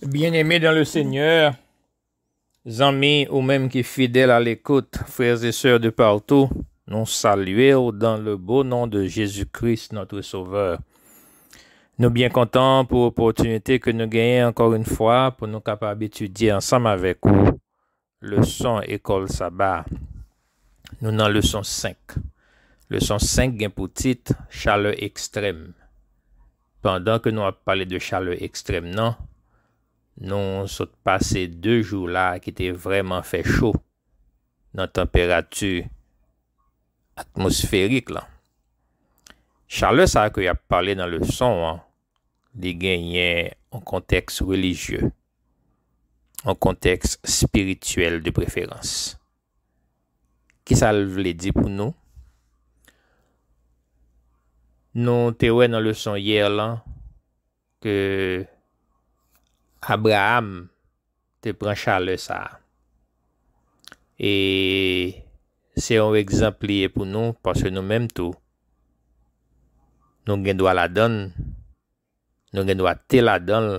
Byeneme dan le Senyè, zanmi ou menm ki fidèl alekout, frè e sè de patou, nou salye ou dan le bo non de Jezi Kris, notre Sauveur. Nou byen kontan pou opòtinite ke nou genyen ankò yn fwa pou nou kapab etidye ansanm avèk ou Leson Ekòl Saba a Nou nan leson 5. Leson 5 gen pou tit Chalè Ekstrèm. Pandan ke nou ap pale de chalè ekstrèm nan, nou sot pase 2 jou la ki te vrèman fè cho nan tanperati atmosferik lan. Chalè sa ke y ap pale nan leson an li genyen yon kontèks relijye, yon kontèks espirityèl de preferans. Ki sa l vle di pou nou? Nou te wè nan leson yè lan ke Abraam te pran chalè sa a. E se yon egzanp li ye pou nou paske nou menm tou nou gen dwa ladan l, nou gen dwa te ladan l,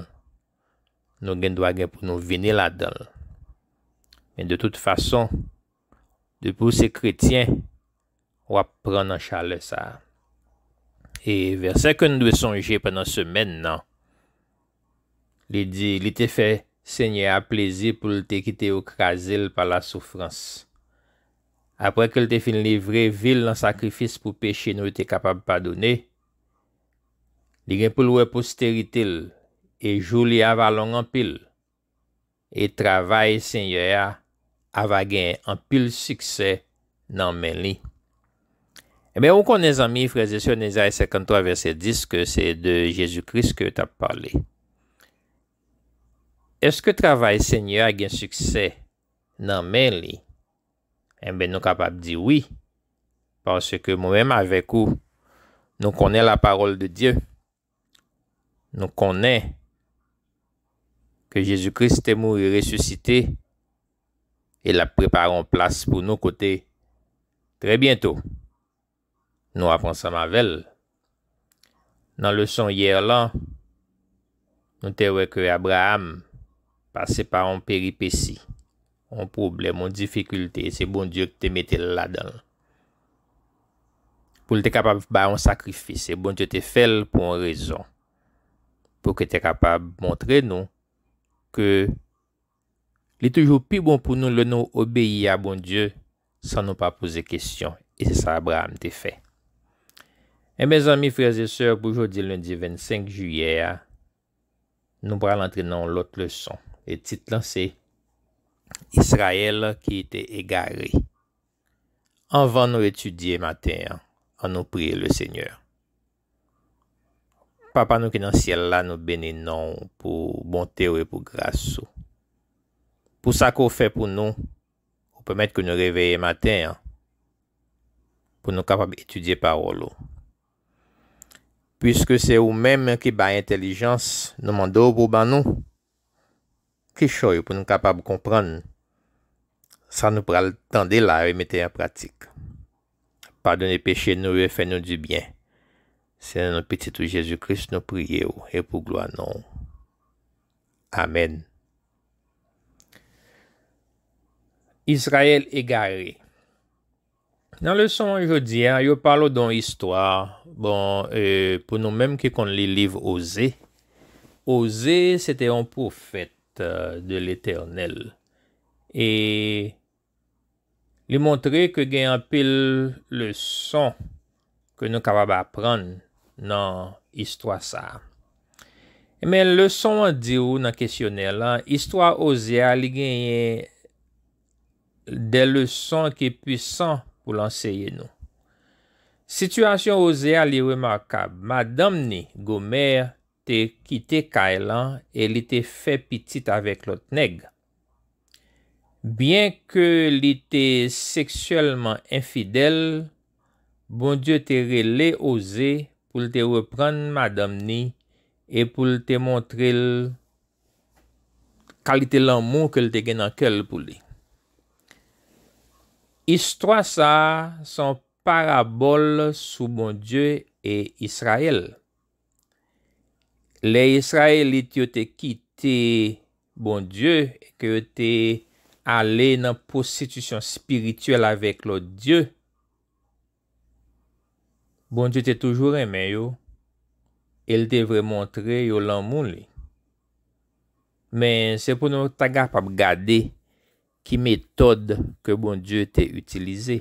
nou gen dwa gen pou nou vini ladan l. Men de tout fason. Depi w se kretyen, w ap pran nan chalè sa a. E vèsè ke n dwe sonje pandan semèn nan, li di, Li te fè Senyè a plezi pou l te kite yo kraze l pa lasoufrans. Apre ke l te fin livre vi l nan sakrifis pou peche nou te kapab padone, li gen pou l wè posterite l, e jou li a va long anpil. e travay Senyè a ava gen anpil siksè nan men li. Enben, ou konnen, zanmi, frèzesè, nan Ezayi 53, vèsè 10, ke se de Jezi Kris ke yo t ap pale. Èske travay Senyè a gen siksè nan men li? Enben, nou kapab di wi, paske mwen menm avèk ou, nou konnen lapawòl de Dye. Nou konnen ke Jezi Kris te mouri resisite e l ap prepare yon plas pou nou kote trè byento nou ap ansanm avè l. Nan leson yè lan, nou te wè ke Abraam pase pa yon peripesi. yon pwoblèm, yon difikilte, se Bondye ki te mete l ladan l. Pou l te kapab bay yon sakrifis, se Bondye te fè l pou yon rezon. Pou ke te kapab montre nou ke li toujou pi bon pou nou lè nou obeyi a Bondye san nou pa poze kesyon. E se sa Abraham te fè. E mezanmi frè e sè pou jodi lendi 25 jiyè a, Nou pral antre nan yon lòt leson e tit lan se Israël ki te egare. Anvan nou etidye maten an, an nou priye le Senyè. Papa nou ki nan syèl la, nou beni non ou pou bonte ou e pou gras ou. Pou sa ke ou fè pou nou, ou pèmèt ke nou reveye maten an pou nou kapab etidye pawòl ou. Piske se ou menm ki bay entèlijans, nou mande w pou w ban nou kichòy pou n kapab konprann sa nou pral tande la yo e mete an pratik. Padone peche nou yo e fè nou di byen. Se nan non Pitit ou Jezi Kris nou priye w e pou glwa non w. Amèn. Izrayèl egare. Nan leson jodi a, yo pale w don istwa, bon, pou nou menm ki konn li liv Oze, Oze se te yon pwofèt de Letènèl e li montre ke gen anpil leson ke nou kapab aprann nan istwa sa a. Enben, leson an di w nan kesyonè la, istwa Oze a li genyen de leson ki pwisan pou l anseye nou. Sitiyasyon Oze a li remakab, madanm ni, Gomère, te kite kay lan e li te fè pitit avèk lòt nèg. Byenke li te seksyèlman enfidèl, Bondye te rele Oze pou l te reprann madanm ni e pou l te montre l Kalite lanmou ke l te gen nan kè l pou li. Istwa sa a se yon parabòl sou Bondye e Izrayèl. Lè Izrayelit yo te kite Bondye e ke yo te ale nan pwostitisyon espirityèl avèk lòt dye, Bondye te toujou renmen yo e l te vle montre yo lanmou li. Men, se pou nou ta kapab gade ki metòd ke Bondye te itilize.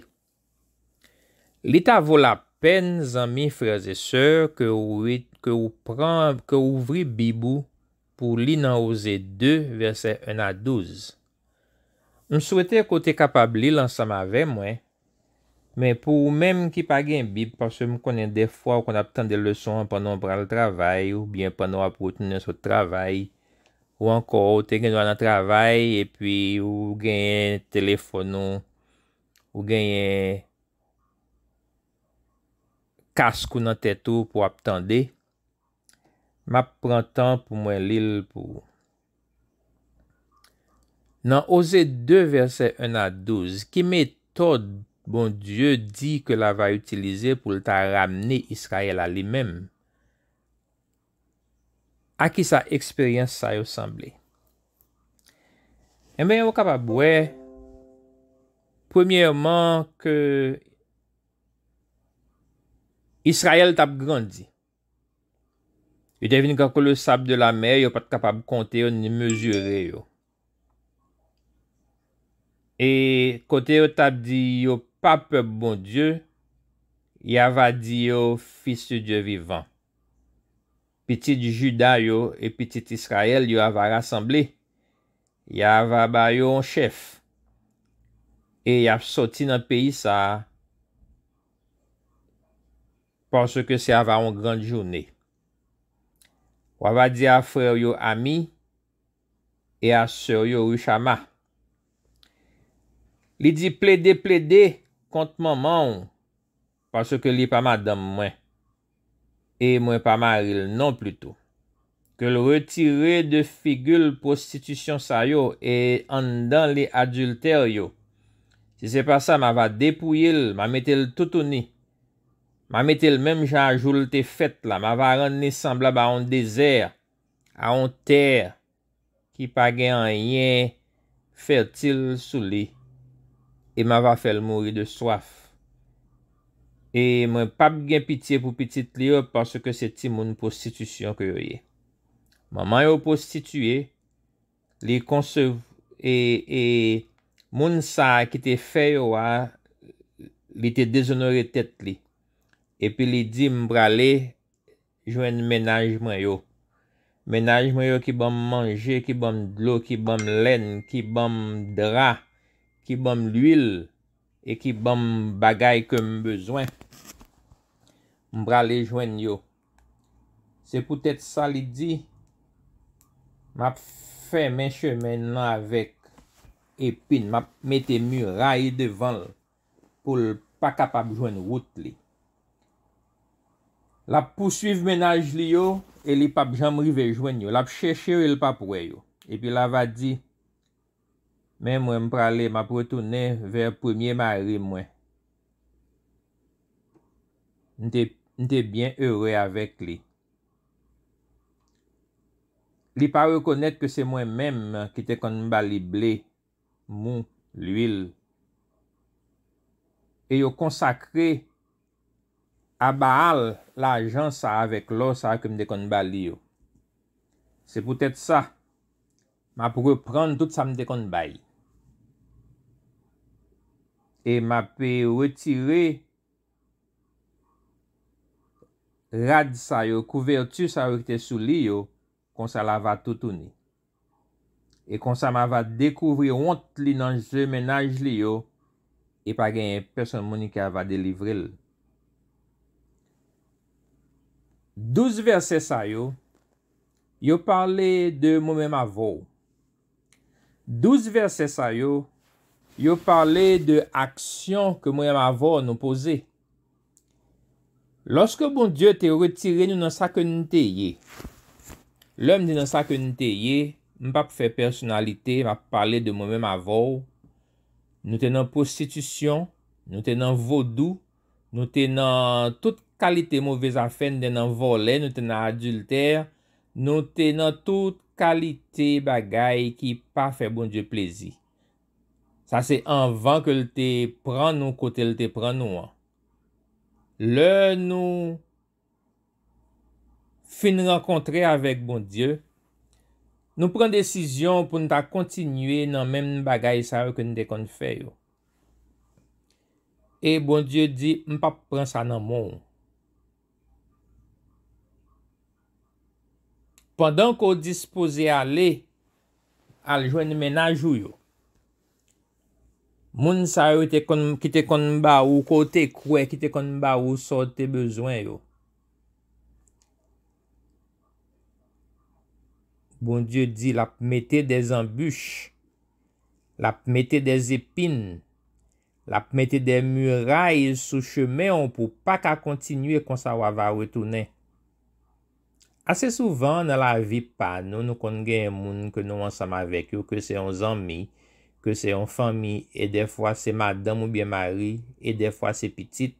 Li ta vo lapèn zanmi frèzesè ke ou pran ke ou ouvri bib ou pou li nan Oze 2 vèsè 1 a 12. M swete ke w te kapab li l ansanm avè mwen, men pou ou menm ki pa gen Bib, paske m konnen dèfwa ou konn ap tande leson an pandan w pral travay oubyen pandan w ap retounen sot travay, ou ankò ou te gendwa nan travay epi ou genyen telefòn ou, ou genyen kask ou nan tèt ou pou w ap tande. Map pran tan pou mwen li l pou ou. Nan Oze 2 vèsè 1 a 12, ki metòd Bondye di ke la va itilize pou l ta ramne Israyèl a li menm? A ki sa eksperyans sa yo sanble? Enben ou kapab wè premyèman ke Israyèl tap grandi. Yo te vin kankou le sab de la mè, yo pa t kapab konte yo ni mezire yo. E kote yo t ap di yo pa pèp Bondye, y ava di yo fis de Dye vivan. Pitit Jida yo e pitit Israël yo ava rasanble, y ava ba yo yon chèf, e y ap sòti nan peyi sa a Parce que se ava on grande journée. Wa va di a frère yo Ami et a sœur yo Rushama. Li di plede plede kont manman w parce que li pa madanm mwen et mwen pa mari l non plus tou. Ke l retire de figi l prostitution sa yo et anndan li adultère yo. Si se pa sa ma va depouye l, ma mete l toutouni. M'a mete l' menm jan a jou l' te fèt la, m'a va rann li sanblab a yon dezè, a yon tè ki pa gen anyen fètil sou li, e m'a va fè l' mouri de swaf. E mwen p'ap gen pitye pou pitit li yo, paske se timoun pwostitisyon ke yo ye. Manman yo pwostitiye, Li konsev e e moun sa a ki te fè yo a li te dezonore tèt li. Epi li di m prale jwenn mennaj mwen yo. Mennaj mwen yo ki ban m manje, ki ban m dlo, ki ban m lenn, ki ban m dra, ki ban m luil e ki ban m bagay ke m bezwen. M prale jwenn yo. Se poutèt sa li di, M ap fèmen chemen l lan avèk epi n, m ap mete miray devan l pou l pa kapab jwenn wout li. L ap pousuiv menaj li yo e li pap janm rive jwenn yo, l ap chèche yo e l pap wè yo. Epi l ava di. Men mwen m prale map retounen vè premye mari mwen. M te m te byen ere avèk li. Li pa rekonèt ke se mwen menm ki te konn ba li ble, mou, lwil. E yo konsakre a Baal lajan sa avèk lò sa ke m te konn ba li yo. Se poutèt sa. Map reprann tout sa m te konn bay. E map retire rad sa yo, kouvèti sa yo ki te sou li yo, konsa la va toutouni. E konsa ma va dekouvri wont li nan je mennaj li yo, e pa genyen pèsonn moun ki ava delivre l. Douz vèsè sa yo Yo pale de mwen menm avè w. Douz vèsè sa yo, yo pale de aksyon ke mwen menm avè w nou poze. Lòske Bondye te retire nou nan sa ke nou te ye, lè m di nan sa ke nou te ye, m p ap fè pèsonalite, m ap pale de mwen menm avè w, nou te nan pwostitisyon, nou te nan vodou, Nou te nan tout kalite move zafè, nou te nan vòlè, nou te nan adiltè, nou te nan tout kalite bagay ki pa fè Bondye plezi. Sa se anvan ke l te pran nou kote l te pran nou an. Lè nou fin rankontre avèk Bondye, nou pran desizyon pou n ta kontinye nan menm bagay sa yo ke n te konn fè yo. E Bondye di, m p ap pran sa nan men w. Pandan ke w dispoze ale, al jwenn mennaj ou yo. Moun sa yo te konn ki te konn ba ou ke w te kwè, ki te konn ba ou sa w te bezwen yo. Bondye di l ap mete de zanbich, l ap mete de zepin, l ap mete de miray sou chemen w pou w pa ka kontinye konsa w ava retounen. Ase souvan nan lavi pa nou, nou konn genyen moun ke nou ansanm avèk yo, ke se yon zanmi, ke se yon fanmi, e dèfwa se madanm oubyen mari, e dèfwa se pitit,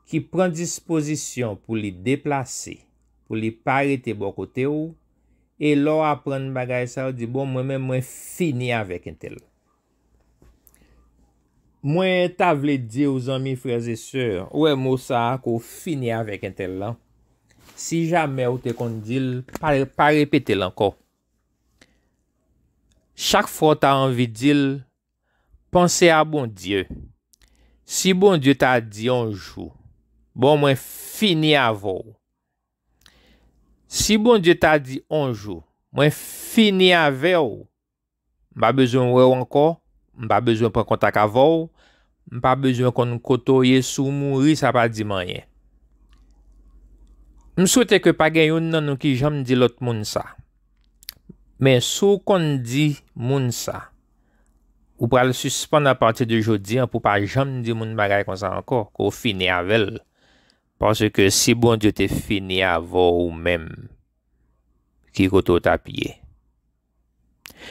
ki pran dispozisyon pou li deplase, pou li pa rete bò kote w, e lè w aprann bagay sa yo di bon mwen menm mwen fini avèk entèl. Mwen ta vle diw zanmi frères et sœur ou wè mo sa ke w fini avèk entèl lan si jamè ou te konn dil pa repetel ankò chak fwa w ta anvi dil panse a Bondye si Bondye ta di yon jou bon mwen fini avè w si Bondye ta di yon jou mwen fini avè w M pa bezwen wè w ankò, m pa bezwen pran kontak avè w, m pa bezwen konn kote w ye, si w mouri sa pa di m anyen. M swete ke pa gen youn nan nou ki janm di lòt moun sa. Men si w konn di moun sa, ou pral sispann apati de jodi an pou w pa janm di moun bagay konsa ankò, ke w fini avè l. Paske si Bondye te fini avè w ou menm, ki kote w t ap ye?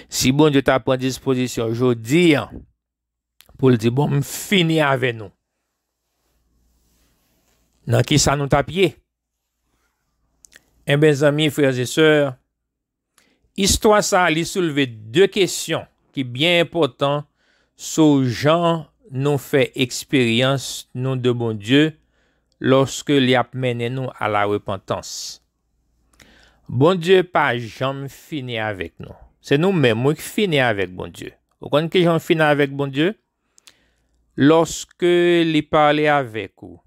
Si Bondye ta pran dispozisyon jodi an pou l di bon m fini avè nou, nan ki sa nou tap ye? Enben zanmi frè e sè, istwa sa li soulve de kesyon ki byen enpòtan sou jan nou fè eksperyans nou de Bondye lòske li ap mennen nou a la repantans. Bondye pa janm fini avèk nou. Se nou menm wi k fini avèk Bondye. Ou konn ki jan fini avèk Bondye? Lòske li pale avèk ou.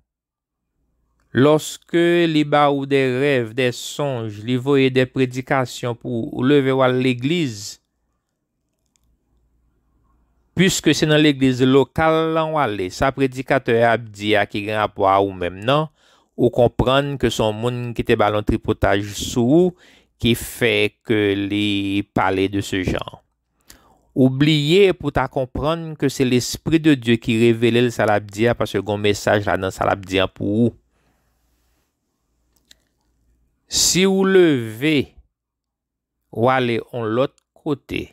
Lòske li ba ou de rèv, de sonj, li voye de predikasyon pou ou leve wal legliz. Puiske se nan legliz lokal lan wale sa predikatè a ap di a ki gen rapò a ou menm nan ou konprann ke son moun ki te bal on tripotaj sou ou ki fè ke li pale de se jan. Ou bliye pou ta konprann ke se lespri de Dye ki revelel sa lap di a paske gon mesaj ladan sa lap di an pou ou. Si ou leve. Ou ale yon lòt kote,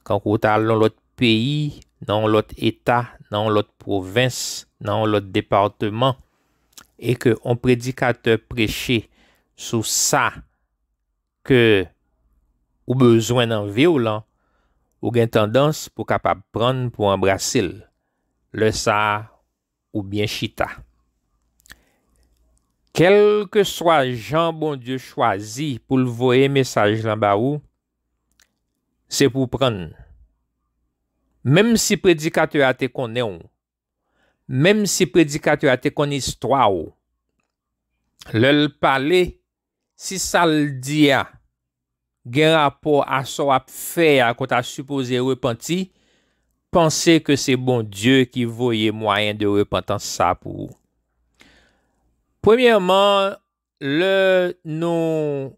kankou ou ta al nan yon lòt peyi, nan yon lòt eta, nan yon lòt pwovens, nan yon lòt departeman, e ke yon predikatè preche sou sa ke ou bezwen nan vi w lan, ou gen tandans pou kapab pran pou anbrase l. Lè sa a, oubyen chita. Kèlkeswa jan Bondye chwazi pou l voye mesaj lan ba ou, se pou w pran l. Menmsi predikatè a te konnen w, menmsi predikatè a te konn istwa w, lè l pale, Si sa l di a gen rapò a sa w ap fè a ke w ta sipoze repanti, panse ke se Bondye ki voye mwayen de repantans sa a pou ou. Premyèman, lè nou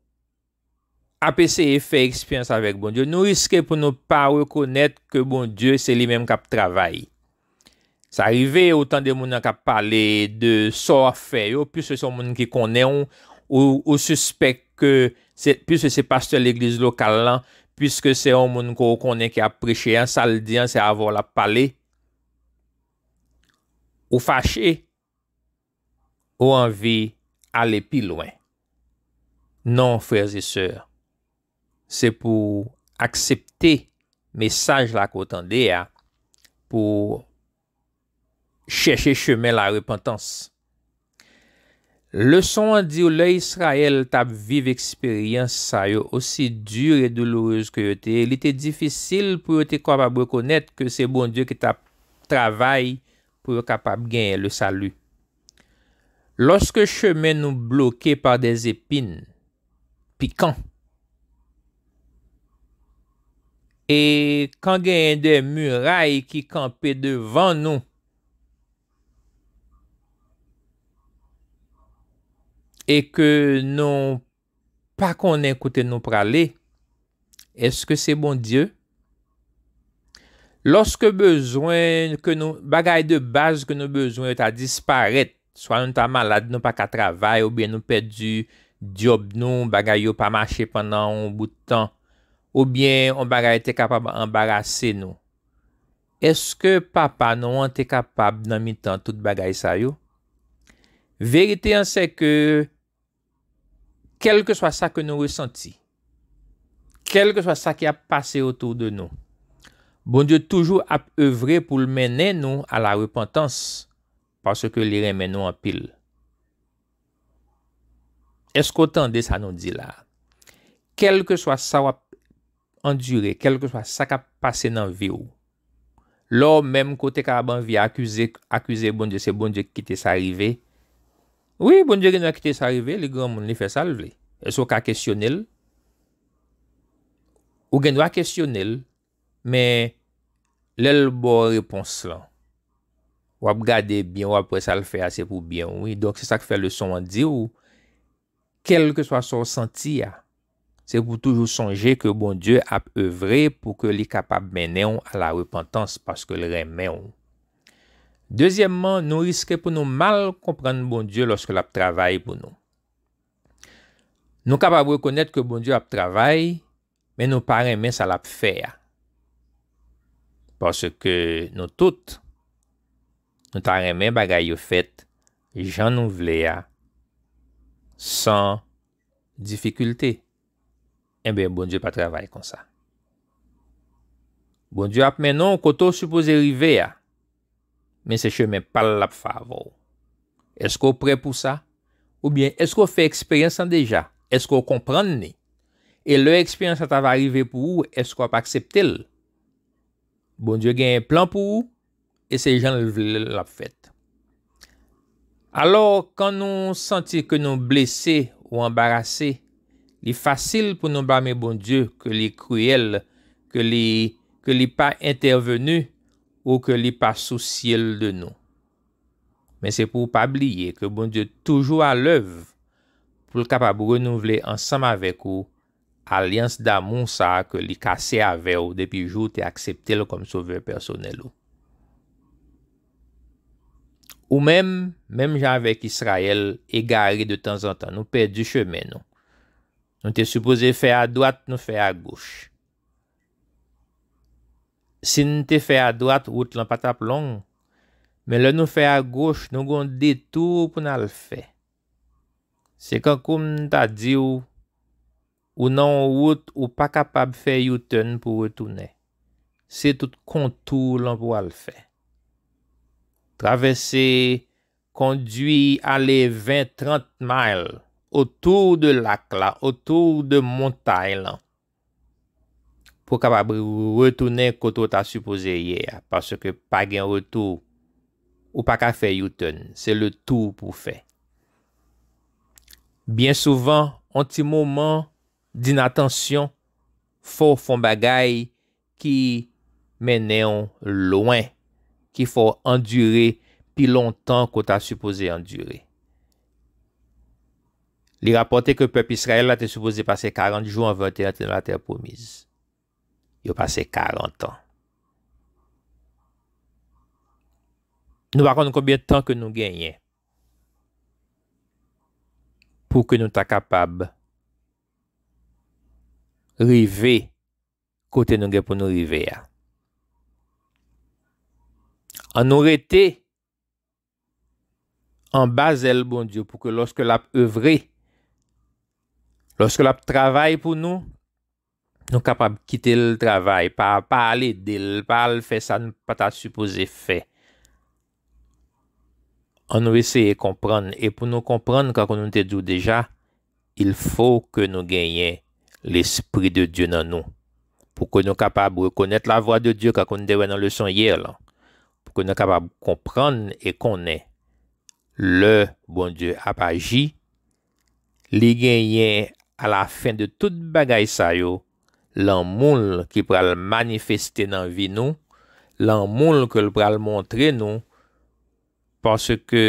ap eseye fè eksperyans avèk Bondye, nou riske pou nou pa rekonèt ke Bondye se li menm k ap travay. Sa rive ou tande moun nan kap pale de sa w ap fè yo, piske se yon moun ki konnen w, ou sispèk ke se, piske se pastè legliz lokal lan, piske se yon moun ke w konnen ki ap preche an, sa l di an se avè w l ap pale, ou fache. Ou anvi ale pi lwen? Non, frères et sœurs, se pou w aksepte mesaj la ke w tande a, pou w chèche chemen larepantans. Leson an di w lè Israël t ap viv eksperyans sa yo, osi dur et douloureuse ke yo te ye, li te difisil pou yo te kapab rekonèt ke se Bondye ki t ap travay pou yo kapab genyen le salut. Loske chemen nou bloke par des epin pikan, e kan genyen de muray ki kanpe devan nou, e ke nou pa konnen kote nou prale, eske se Bondye? Lòske bezwen ke nou, bagay de baz ke nou bezwen yo ta disparèt, swa nou ta malad nou pa ka travay oubyen nou pèdi dyòb nou, bagay yo pa mache pandan yon bout tan, oubyen yon bagay te kapab anbarase nou, eske Papa nou an te kapab nan mitan tout bagay sa yo? Verite an sèke, Kèlkeswa sa ke nou resanti, kèlkeswa sa ki ap pase otou de nou, Bondye toujou ap evre pou l mennen nou a la repantans paske li renmen nou anpil. Èske w tande sa nou di la a? Kèlkeswa sa w ap andire kèlkeswa sa k ap pase nan vi w. Lè w menm ke w te kapab anvi akize akize Bondye se Bondye ki kite sa rive, wi Bondye gen dwa kite sa rive li granmoun li fè sa l vle. Èske w ka kesyone l? Ou gen dwa kesyone l men lè l ba w repons lan w ap gade byen w ap wè sa l fè a se pou byen w wi. Donk se sa k fè leson an di w Kèlkeswa sa w santi a, se pou w toujou sonje ke Bondye ap evre pou ke li kapab mennen w a la repantans paske l renmen w. Dezyèmman, nou riske pou nou mal konprann Bondye lòske l ap travay pou nou. Nou kapab rekonèt ke Bondye ap travay Men nou pa renmen sa lap fè a. Paske nou tout, nou ta renmen bagay yo fèt jan nou vle a, san difikilte. Enben Bondye pa travay konsa. Bondye ap mennen w kote w sipoze rive a. men se chemen pa l l ap fè avè w. Èske w prè pou sa? Oubyen, èske w fè eksperyans lan deja? Èske w konprann ni? E lè eksperyans la ta va rive pou ou, èske w ap aksepte l? Bondye genyen plan pou ou, e se jan l vle l l ap fèt. Alò, kan nou santi ke nou blese ou anbarase, li fasil pou nou blame Bondye ke li kriyèl, ke li ke li pa entèveni ou ke li pa sousye l de nou. Men se pou w pa bliye ke Bondye toujou alèv pou l kapab renouvle ansanm avèk ou alyans damou sa a ke li kase avè w depi jou w te aksepte l kòm Sovè pèsonèl ou. Ou menm, menm jan avèk Israël, egare de tanzantan, nou pèdi chemen nou. Nou te sipoze fè adwat, nou fè agoch. Si n te fè adwat, wout lan pa t ap long, men lè nou fè agoch, nou gen yon detou pou n al fè. Se kankou m ta di w, ou nan yon wout ou pa kapab fè U-turn pou retounen. Se tout kontou lan pou w al fè. Travèse, kondwi ale 20, 30 mile otou de lak la, otou de montay lan. Pou w kapab retounen kote w ta sipoze ye a paske pa gen retou ou pa ka fè U-turn se le tour pou w fè. Byen souvan on ti moman dinatansyon fè w fè on bagay ki mennen w lwen, ki fè w andire pi lontan ke w ta sipoze andire. Li rapòte ke pèp Israyèl la te sipoze pase karant jou anvan yo te antre nan Latè pwomiz. Yo pase karantan. Nou pa konn konbyen tan ke nou genyen pou ke nou ta kapab rive Kote nou gen pou nou rive a. An nou rete anba zèl Bondye pou ke lòske lap evre, lòske lap travay pou nou, nou kapab kite l travay, pa ale de l, pa al fè sa nou pa ta sipoze fè. An nou eseye konprann e pou nou konprann kankou nou te di w deja il fo ke nou genyen lespri de Dye nan nou pou ke nou kapab rekonèt la vwa de Dye kankou nou te wè nan leson yè lan pou ke nou kapab konprann e konnen lè Bondye ap aji Li genyen alafen de tout bagay sa yo, lanmou l ki pral manifeste nan vi nou, lanmou l ke l pral montre nou, paske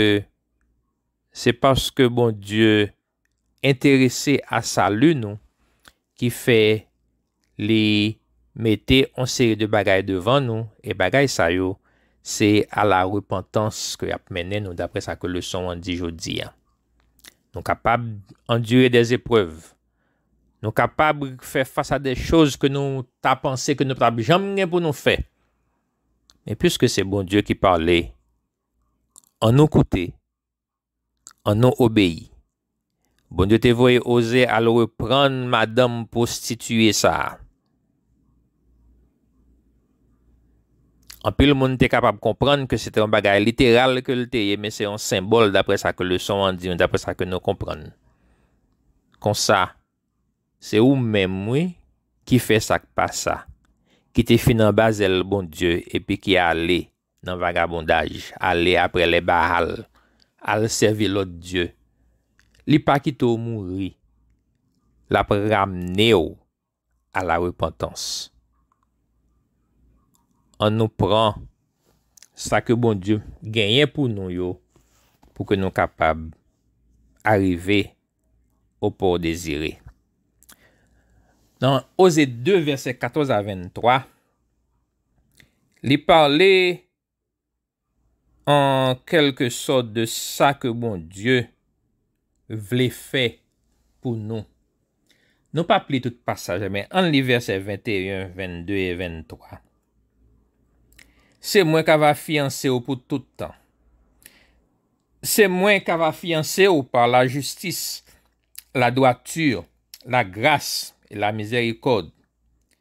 se paske Bondye enterese a sali nou ki fè Li mete on seri de bagay devan nou, e bagay sa yo, se a la repantans ke y ap mennen nou dapre sa ke leson an di jodi a. Nou kapab andire dè zeprèv, nou kapab fè fas a dè choz ke nou ta panse ke nou pa t ap janm gen pou nou fè. Men piske se Bondye ki pale, an nou koute. Annou obeyi. Bondye te voye Oze al reprann madanm pwostitiye sa a. Anpil moun te kapab konprann ke se te yon bagay literal ke l te ye, men se yon senbòl dapre sa ke leson an di nou, dapre sa ke nou konprann. Konsa, se ou menm, wi, ki fè sa k pa sa, ki te fin anba zèl Bondye epi ki ale. Nan vagabondaj, ale apre lè Baal, al sèvi lòt dye. Li pa kite w mouri. L ap ramne w alarepantans. Annou pran sa ke Bondye genyen pou nou yo pou ke nou kapab arive o pò dezire. Nan Oze 2 vèsè 14 a 23. Li pale an kèlke sòt de sa ke Bondye vle fè pou nou. Nou p ap li tout pasaj la, men ann li vèsè 21, 22 e 23, Se mwen k ava fiyanse ou pou tout tan. Se mwen k ava fiyanse ou pa lajistis, ladwati, lagras e lamizèrikòd.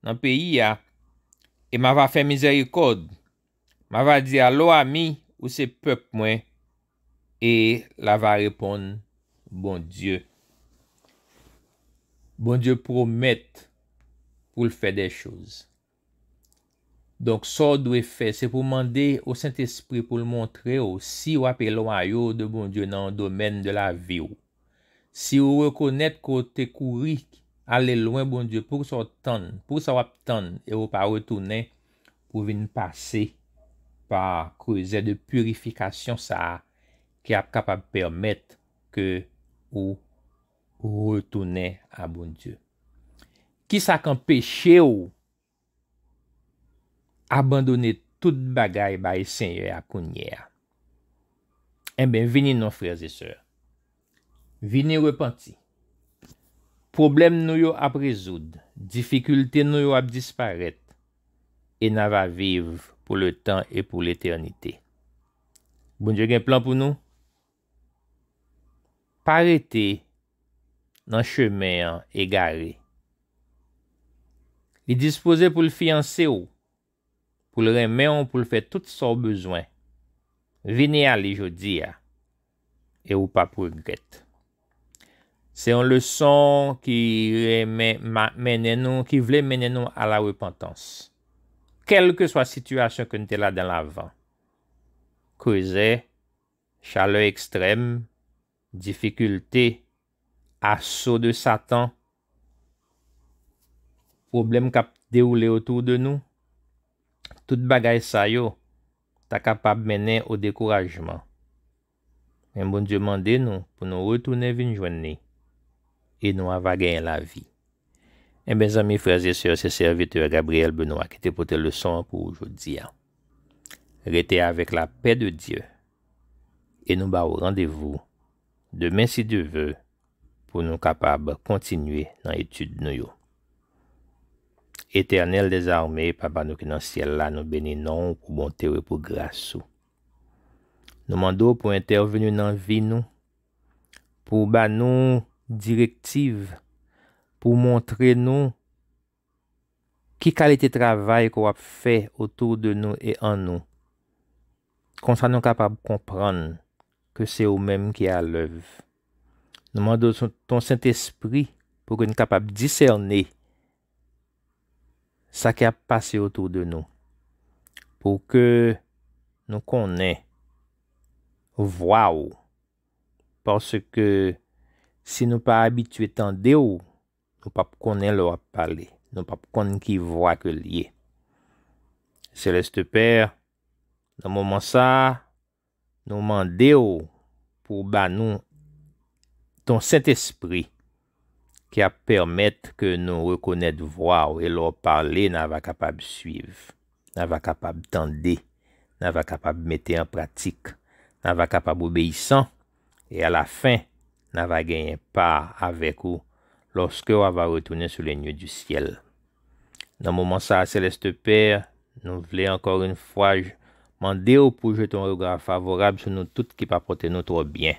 nan peyi a, e m ava fè mizèrikòd, m ava di a, Lo ami, ou se pèp mwen, e l ava reponn, Bondye. Bondye pwomèt pou l fè de choz. Donk, sa w dwe fè, se pou w mande o Sentespri pou l montre w si w ap elwaye w de Bondye nan yon domèn de lavi w. Si ou rekonèt ke w te kouri ale lwen Bondye, poukisa w tann, poukisa w ap tann e ou pa retounen pou vin pase pa kruzè de purifikasyon sa a ki ap kapab pèmèt ke ou retounen a Bondye? Kisa k anpeche w Abandone tout bagay bay Senyè a kounye a. Enben, vini non frèzesè. Vini repanti. Pwoblèm nou yo ap rezoud, difikilte nou yo ap disparèt, e na va viv pou letan e pou letènite. Bondye gen plan pou nou. Pa rete nan chemen an egare. Li dispoze pou l fiyanse w, pou l renmen w, pou l fè tout sa w bezwen. Vini a li jodi a e ou pap regrèt. Se yon leson ki renmen mennen nou, ki vle mennen nou a la repantans. Kèlkeswa sitiyasyon ke n te ladan l avan, Creuset Chalè ekstrèm, difikilte, aso de satan, pwoblèm k ap dewoule otou de nou, tout bagay sa yo ta kapab mennen o dekourajman. Men Bondye mande nou pou nou retounen vin jwenn li e nou ava genyen lavi. Enben zanmi, frè e sè, se sèvitè Gabriel Benoit ki te pote leson an pou ou jodi a. Rete avèk la pè de Dye e nou ba ou randevou demen si Dye ve pou nou kapab kontinye nan etid nou yo. Etènèl dezame Papa nou ki nan syèl la nou beni non ou pou bonte ou e pou gras ou. Nou mande ou pou entèveni nan vi nou, pou ba nou direktiv, pou montre nou Ki kalite travay ke w ap fè otou de nou e an nou? Konsa nou kapab konprann ke se ou menm ki alèv. Nou mande w ton Sentespri pou ke n kapab disène sa ki ap pase otou de nou, pou ke nou konnen vwa w, paske si nou pa abitye tande w, Nou pap konnen lè wap pale. Nou pap konn ki vwa ke l ye. Céleste Père, nan moman sa a, nou mande w pou w ba nou ton Sentespri ki ap pèmèt ke nou rekonèt vwa w e lè w pale na va kapab swiv, na va kapab tande, na va kapab mete an pratik, na va kapab obeyisan. E a la fin, na va genyen pa avèk ou lòske wa va retounen sou le nue du ciel. Nan moman sa a, Seleste Pè, nou vle ankò yn fwa mande ou pou jete yon rega favorab sou nou tout ki pa pòte nou twò byen.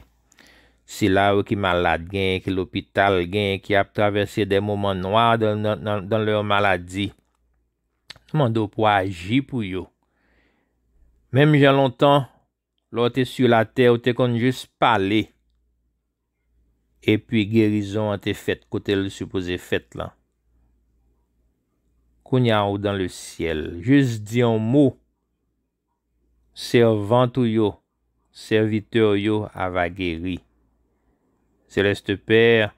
Sila yo ki malad, genyen ki lopital, genyen ki ap travèse de moman nwa dan lèur maladi, nou mande ou pou aji pou yo. Menm jan lontan Lè w te su latè, ou te konn jis pale, epi gerizon an te fèt kote l sipoze fèt lan. Kounye a ou dan le syèl, jis di yon mo, sèvant ou yo, sèvitè w yo ava geri. Seleste Pè,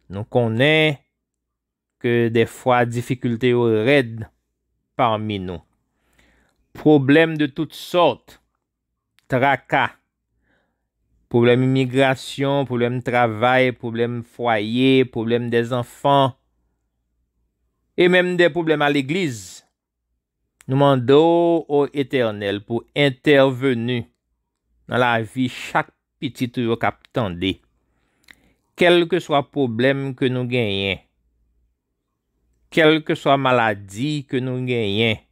nou konnen. Ke dèfwa difikilte yo rèd pami nou. Pwoblèm de tout sòt, traka, pwoblèm imigrasyon, pwoblèm travay, pwoblèm fwaye, pwoblèm de zanfan, e menm de pwoblèm a legliz, Nou mande w, o Etènèl, pou entèveni nan lavi chak pitit ou yo k ap tande. Kèlkeswa pwoblèm ke nou genyen, kèlkeswa maladi ke nou genyen,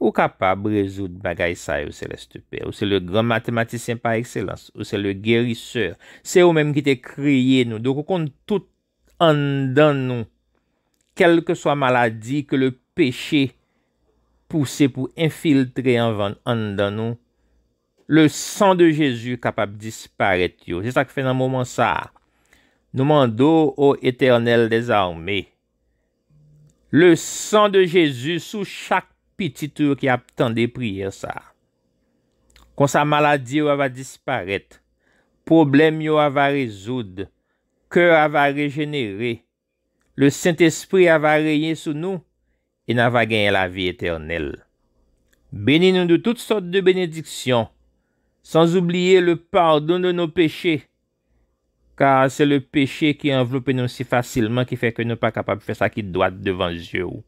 Ou kapab rezoud bagay sa yo, Seleste Pè. Ou se le gran matematisyen pa ekselans. Ou se le gerisè. Se ou menm ki te kreye nou. Donk ou konn tout anndan nou, kèlkeswa maladi ke le peche pouse pou enfiltre anvan anndan nou, le san de Jezi kapab disparèt yo. Se sa k fè nan moman sa a, nou mande w, o Etènèl dè zame, le san de Jezi sou chak pitit ou yo ki ap tande priyè sa a. Konsa maladi yo ava disparèt, pwoblèm yo ava rezoud, Kè a va rejenere. Le Sentespri a va renye sou nou e na va genyen lavi etènèl. Beni nou de tout sòt de benediksyon, san zoubliye le padon de nou peche, ka se le peche ki anvlope nou si fasilman ki fè ke nou pa kapab fè sa ki dwat devan zye ou.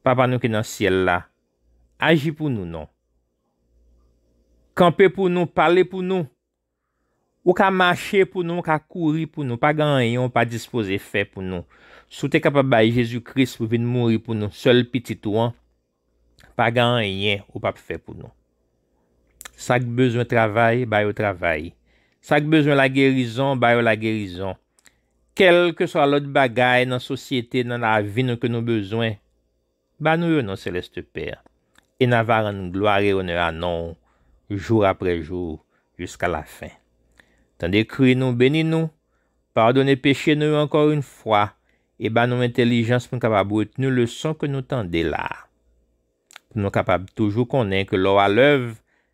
Papa nou ki nan syèl la, aji pou nou non. Kanpe pou nou, pale pou nou, Ou ka mache pou nou, ou ka kouri pou nou, pa gen anyen ou pa dispoze fè pou nou. Si w te kapab bay Jezi Kris pou vin mouri pou nou, sèl Pitit ou an, pa gen anyen ou p ap fè pou nou. Sa k bezwen travay, ba yo travay. Sa k bezwen lagerizon, ba yo lagerizon. Kèlkeswa lòt bagay nan sosyete, nan lavi nou ke nou bezwen, Ba nou yo, non Seleste Pè, e n'a va rann glwa e onè a non ou jou aprè jou jiska lafen. Tande kri nou, beni nou, padone peche nou yo ankò yn fwa e ba nou entèlijans pou n kapab retni leson ke nou tande la a. Pou nou kapab toujou konnen ke lè w alèv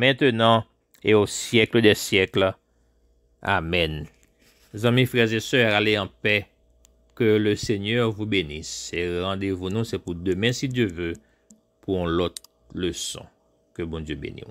Mentenan, e o syèkle dè syèkle. Amèn. Zanmi frè e sè ale an pè ke le Senyè vou benis e randevou nou se pou demen si Dye ve pou on lòt leson ke Bondye beniw.